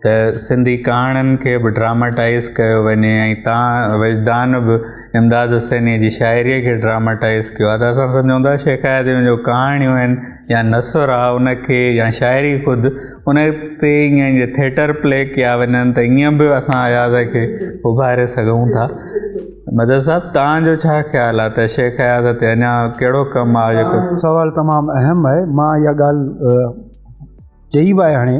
ته سنڌي ڪهاڻين کي به ڊراماٽائيز ڪيو وڃي ۽ تان وجدان به امداد حسينيء جي شاعريء کي ڊراماٽائيز ڪيو آهي ته اسان سمجهون ٿا شيخ آيازيون جون ڪهاڻيون آهن يا نثر آهي ان کي يا شاعري خود ان تي ائين جي ٿيٽر پلي ڪيا وڃن ته ائين به اسان اياز کي اڀاري سگهون ٿا مدد صاحب تان جو ڇا خيال آهي ته شيخ اياز تي اڃا ڪهڙو ڪم آهي جيڪو سوال تمام اهم آهي مان اها ڳالهه چئي به آهي هاڻي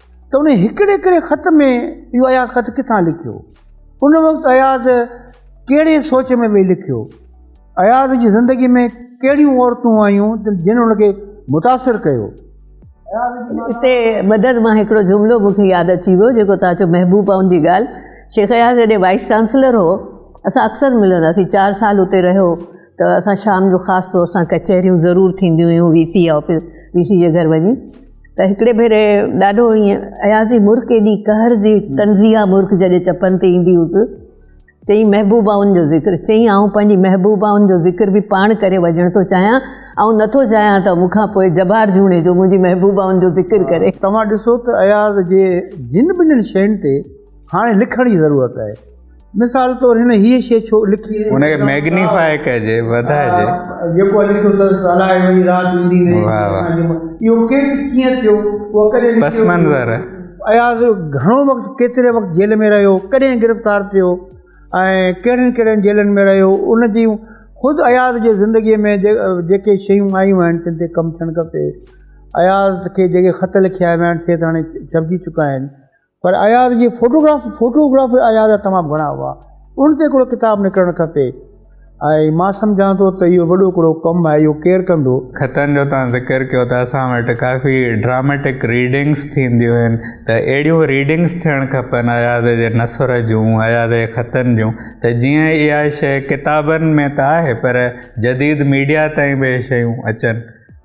ته ان هڪڙي هڪڙي خط ۾ اهو اياز خط ڪٿان لکيو ان وقت اياز ڪهڙي سوچ ۾ ويهي لکيو اياز جي ذندگي ۾ ڪهڙيون عورتون آيون جن ان کي متاثر ڪيو اتي مدد مان هڪڙو جملو مون کي ياد اچي ويو جيڪو تان چو محبوب پائون جي ڳالهه شيخ اياز جڏهن وائيس چانسلر هو اسان اڪثر ملندا سين چار سال اتي رهيو ته اسان شام جو خاص طور سان ڪچهريون ضرور ٿينديون هيون V C office V C جي گهر وڃي ته هڪڙي ڀيري ڏاڍو ائين ايازي مرڪ ايڏي قهر جي تنزيه مرڪ جڏهن چپن تي ايندي هيس چئين محبوبائن جو ذڪر چئين آئون پنهنجي محبوبائن جو ذڪر به پاڻ ڪري وجهڻ ٿو چاهيان آئون نٿو چاهيان ته مون کان پوء جبار جوڻي جو منهنجي محبوبائن جو ذڪر ڪري توهان ڏسو ته اياز جي جن ٻنهن شين تي هاڻي لکڻ جي ضرورت آهي مثال طور هن هيء شيء ڇو لکي؟ هن کي ميگنيفاء ڪجي، وڌائجي. جيڪو هن لکيو اٿس، الائي وڃي رات ايندي نه ايندي. واه واه. اهو ڪنهن کي ڪيئن ٿيو، اهو ڪڏهن لکيو. پس منظر. اياز گهڻو وقت، ڪيتري وقت جيل ۾ رهيو، ڪڏهن گرفتار ٿيو ۽ ڪهڙين ڪهڙين جيلن ۾ رهيو، ان جون خود اياز جي زندگيء ۾ جيڪي شيون آيون آهن، تن تي ڪم ٿيڻ کپي. اياز کي جيڪي خط لکيا ويا آهن، سي ته هاڻي ڇپجي چڪا آهن. پر اياز جي فوٽوگراف فوٽوگراف اياز جا تمام گهڻا هئا ان تي هڪڙو ڪتاب نڪرڻ کپي ۽ مان سمجهان ٿو ته اهو وڏو هڪڙو ڪم آهي اهو ڪير ڪندو خطن جو توهان ذڪر ڪيو ته اسان وٽ ڪافي ڊراميٽڪ ريڊنگس ٿينديون آهن ته اهڙيون ريڊنگس ٿيڻ کپن اياز جي نثر جون اياز جي خطن جون ته جيئن اها شيء ڪتابن ۾ ته آهي پر جديد ميڊيا تائين به اهي شيون اچن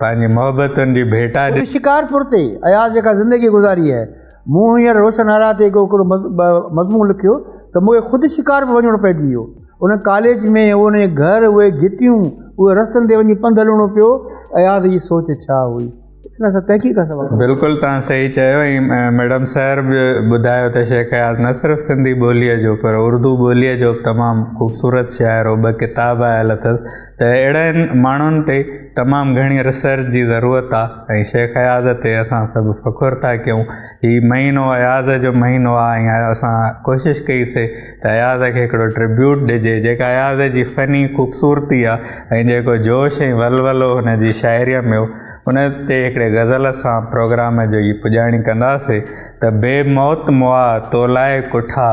پنهنجي محبتن جي ڀيٽا ڏني. اتي شڪارپور تي اياز جيڪا زندگي گذاري آهي، مون هينئر روشن آرا تي هڪڙو مضمون لکيو ته مون کي خود شڪارپور وڃڻو پئجي ويو. ان ڪاليج ۾، اهو نئين گهر، اهي گهٽيون، اهي رستن تي وڃي پنڌ هلڻو پيو، اياز جي سوچ ڇا هئي؟ ان سان تحقيق ڪا سوال ڪانهي. بلڪل توهان صحيح چيو ۽ ميڊم سحر به ٻڌايو ته شيخ اياز نه صرف سنڌي ٻوليء جو پر اردو ٻوليء جو به تمام خوبصورت شاعر هو، ٻه ڪتاب آيل اٿس. ته اهڙن ماڻهن تي تمام گهڻي ريسرچ جي ضرورت آ ۽ شيخ اياز تي اسان سڀ فخر ٿا ڪيون هي مهينو اياز جو مهينو آ ۽ اسان ڪوشش ڪئي سي ته اياز کي هڪڙو ٽربيوٽ ڏجي جيڪا اياز جي فني خوبصورتي آ ۽ جيڪو جوش ۽ ولولو هن جي شاعريء ۾ هو ان تي هڪڙي غزل سان پروگرام جو ئي پڄاڻي ڪنداسي ته بي موت مئا تو لاء ڪٺا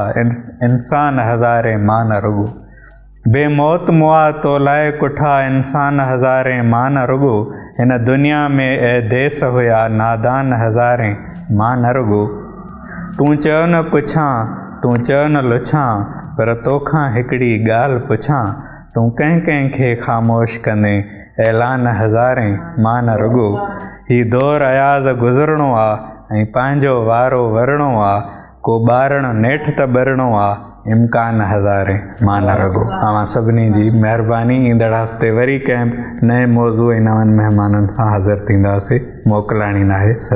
انسان هزارين مان نه رڳو بي موت مئا تو لاء ڪٺا انسان هزارين مان نه رڳو هن دنيا ۾ اي ديس هيا نادان هزارين مان نه رڳو تون چيو نه پڇان تون چيو نه لڇان پر توکان هڪڙي ڳالهه پڇان تون ڪنهن ڪنهن کي خاموش ڪندين اعلان هزارين مان نه رڳو هي دور اياز گذرڻو آ ۽ پنهنجو وارو ورڻو آ ڪو ٻارڻ نيٺ ته ٻرڻو آ، امڪان هزارين مان نه رڳو. اوهان سڀني جي مهرباني ايندڙ هفتي وري ڪنهن به نئين موضوع ۽ نون مهمانن سان حاضر ٿينداسين موڪلاڻي ناهي صدر.